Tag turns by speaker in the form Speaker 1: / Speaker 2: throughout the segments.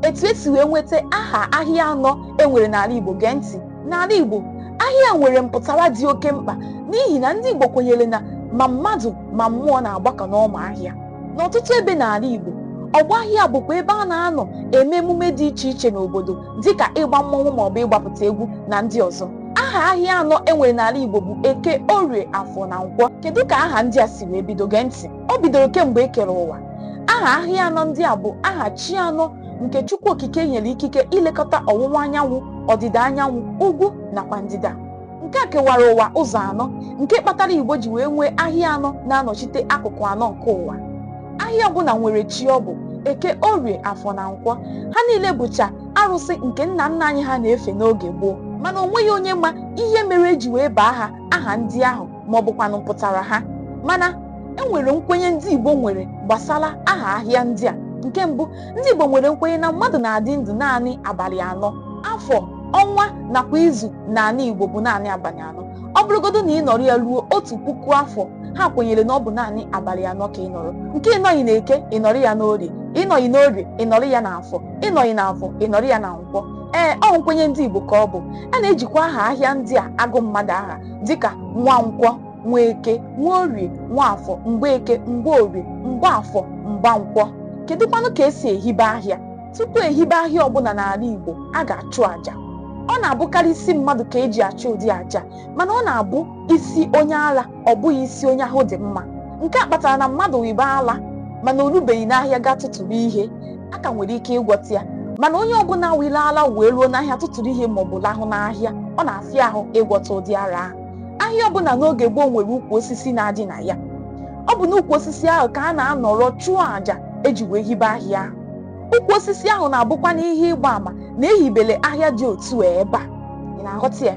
Speaker 1: etu esi wee nweta aha ahịa anọ e nwere n'ala Igbo gee ntị n'ala Igbo ahịa nwere mpụtara dị oke mkpa n'ihi na ndị Igbo kwenyere na ma mmadụ ma mmụọ na-agbakọ n'ọma ahịa n'ọtụtụ ebe n'ala Igbo ọgbọ ahịa bụkwa ebe a na-anọ eme emume dị iche iche n'obodo dịka ịgba mmọnwụ maọbụ ịgbapụta egwu na ndị ọzọ aha ahịa anọ e nwere n'ala Igbo bụ Eke Orie Afọ na Nkwọ kedu ka aha ndị a si wee bido gee ntị o bidoro kemgbe e kere ụwa aha ahịa anọ ndị a bụ aha chi anọ nke Chukwu Okike nyere ikike ilekọta ọwụwa anyanwụ ọdịda anyanwụ ugwu nakwa ndịda nke a kewara ụwa ụzọ anọ nke kpatara Igbo ji wee nwee ahịa anọ na-anọchite akụkụ anọ nke ụwa ahịa ọbụla nwere chi ọ bụ Eke Orie Afọ na Nkwọ ha niile bụcha arụsị nke nna nna anyị ha na-efe n'oge gboo mana o nweghị onye ma ihe mere eji wee baa ha aha ndị ahụ ma ọ bụkwanụ mpụtara ha mana e nwere nkwenye ndị Igbo nwere gbasara aha ahịa ndị a nke mbụ ndị Igbo nwere nkwenye na mmadụ na-adị ndụ naanị abalị anọ afọ ọnwa nakwa izu n'ala Igbo bụ naanị abalị anọ ọ bụrụgodo na ị nọrọ ya ruo otu puku afọ ha kwenyere na ọ bụ naanị abalị anọ ka ị nọrọ nke ị nọghị n'Eke ị nọrọ ya n'Orie ị nọghị n'Orie ị nọrọ ya n'Afọ ị nọghị n'Afọ ị nọrọ ya na Nkwọ ee ọ nkwenye ndị Igbo ka ọ bụ a na-ejikwa aha ahịa ndị a agụ mmadụ aha dịka Nwankwọ Nwaeke Nwaorie Nwaafọ Mgbeeke Mgbeorie Mgbaafọ Mgbankwọ kedukwanụ ka esi ehibe ahịa tupu e hibe ahịa ọbụla n'ala Igbo a ga-achụ àjà ọ na-abụkarị isi mmadụ ka eji achụ ụdị àjà a mana ọ na-abụ isi onye ala ọ bụghị isi onye ahụ dị mma nke a kpatara na mmadụ wibe ala mana o rubeghị n'ahịa gaa tụtụrụ ihe a ka nwere ike ịgwọta ya mana onye ọbụla wiri ala wee ruo n'ahịa tụtụrụ ihe maọbụ lahụ n'ahịa ọ na-afịa ahụ ịgwọta ụdị ara ahụ ahịa ọbụla n'oge gboo nwere ukwu osisi na-adị na ya ọ bụ n'ukwu osisi ahụ ka a na-anọrọ chụọ àjà eji wee hibe ahịa ahụ ukwu osisi ahụ na-abụkwanụ ihe ịgba àmà na e hibere ahịa dị otu a ebe a ị na-aghọta ya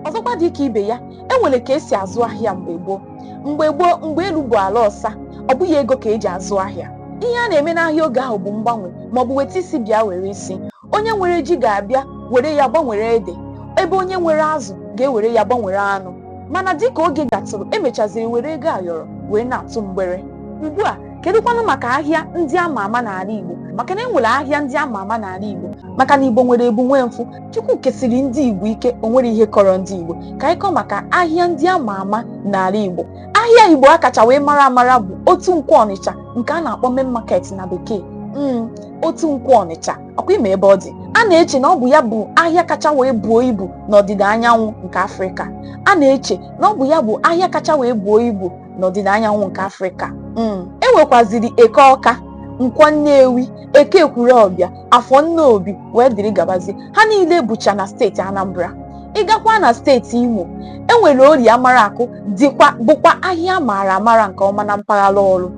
Speaker 1: ọzọkwa dị ka ibe ya e nwere ka esi azụ ahịa mgbe gboo mgbe gboo mgbe elu bụ ala ọsa ọ bụghị ego ka eji azụ ahịa ihe a na-eme n'ahịa oge ahụ bụ mgbanwe maọbụ weta isi bịa were isi onye nwere ji ga-abịa were ya gbanwere ede ebe onye nwere azụ ga-ewere ya gbanwere anụ mana dịka oge gatụrụ e mechaziri were ego ayọrọ wee na-atụ mgbere ugbu a kedukwanụ maka ahịa ndị ama ama n'ala Igbo maka na e nwere ahịa ndị ama ama n'ala Igbo maka na Igbo nwere ebu nwee mfụ Chukwu kesiri ndị Igbo ike o nwere ihe kọrọ ndị Igbo ka anyị kọọ maka ahịa ndị a ma ama n'ala Igbo ahịa Igbo a kacha wee mara amara bụ Otu Nkwọ Ọnịcha nke a na-akpọ main market na Bekee mm, Otu Nkwọ Ọnịcha ọ kwa ị ma ebe ọ dị a na-eche na ọ bụ ya bụ ahịa kacha wee buo ibu n'ọdịda anyanwụ nke Afrịka a na-eche na ọ bụ ya bụ ahịa kacha wee buo ibu n'ọdịda anyanwụ nke Afrịka mm. e nwekwaziri Eke Ọka Nkwọ Nnewi Eke Ekwulọbịa afọ nnobi wee dịrị gabazie ha niile bụcha na steeti anambra ị gakwaa na steeti imo enwere orie amaraku dịkwa bụkwa ahịa maara amara nke ọma na mpaghara ọrlụ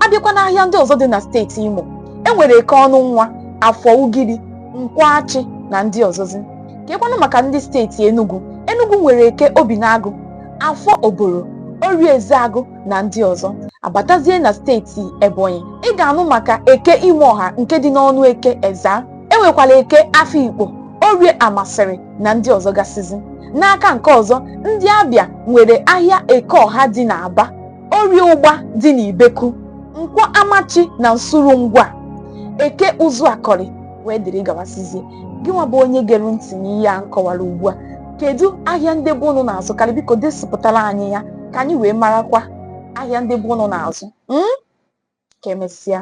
Speaker 1: abịakwa n'ahịa ndị ọzọ dị na steeti imo enwere eke ọnụnwa afọ ugiri nkwọ achi na ndị ọzọzi kekwanụ maka ndị steeti enugu enugu nwere eke obinagụ afọ obolo orie ezeagụ na ndị ọzọ abatazie na steeti Ebonyi ị ga-anụ maka eke Imọha nke dị n'Ọnụeke Ezza enwekwara eke Afikpo orie Amasiri na ndị ọzọ gasịzi n'aka nke ọzọ ndị Abịa nwere ahịa Ekeọha dị n'Aba orie ụgba dị n'Ibeku Nkwọ Amachi na Nsulu Ngwa eke Ụzụakọlị wee dịrị gawasịzie gị nwa bụ onye gere ntị n'ihe a m kọwara ugbu a kedu ahịa ndị be ụnụ na-azụkarị biko desipụtara anyị ya ka anyị wee marakwa ahịa ndị be ụnụ na-azụ hmm? ka emesịa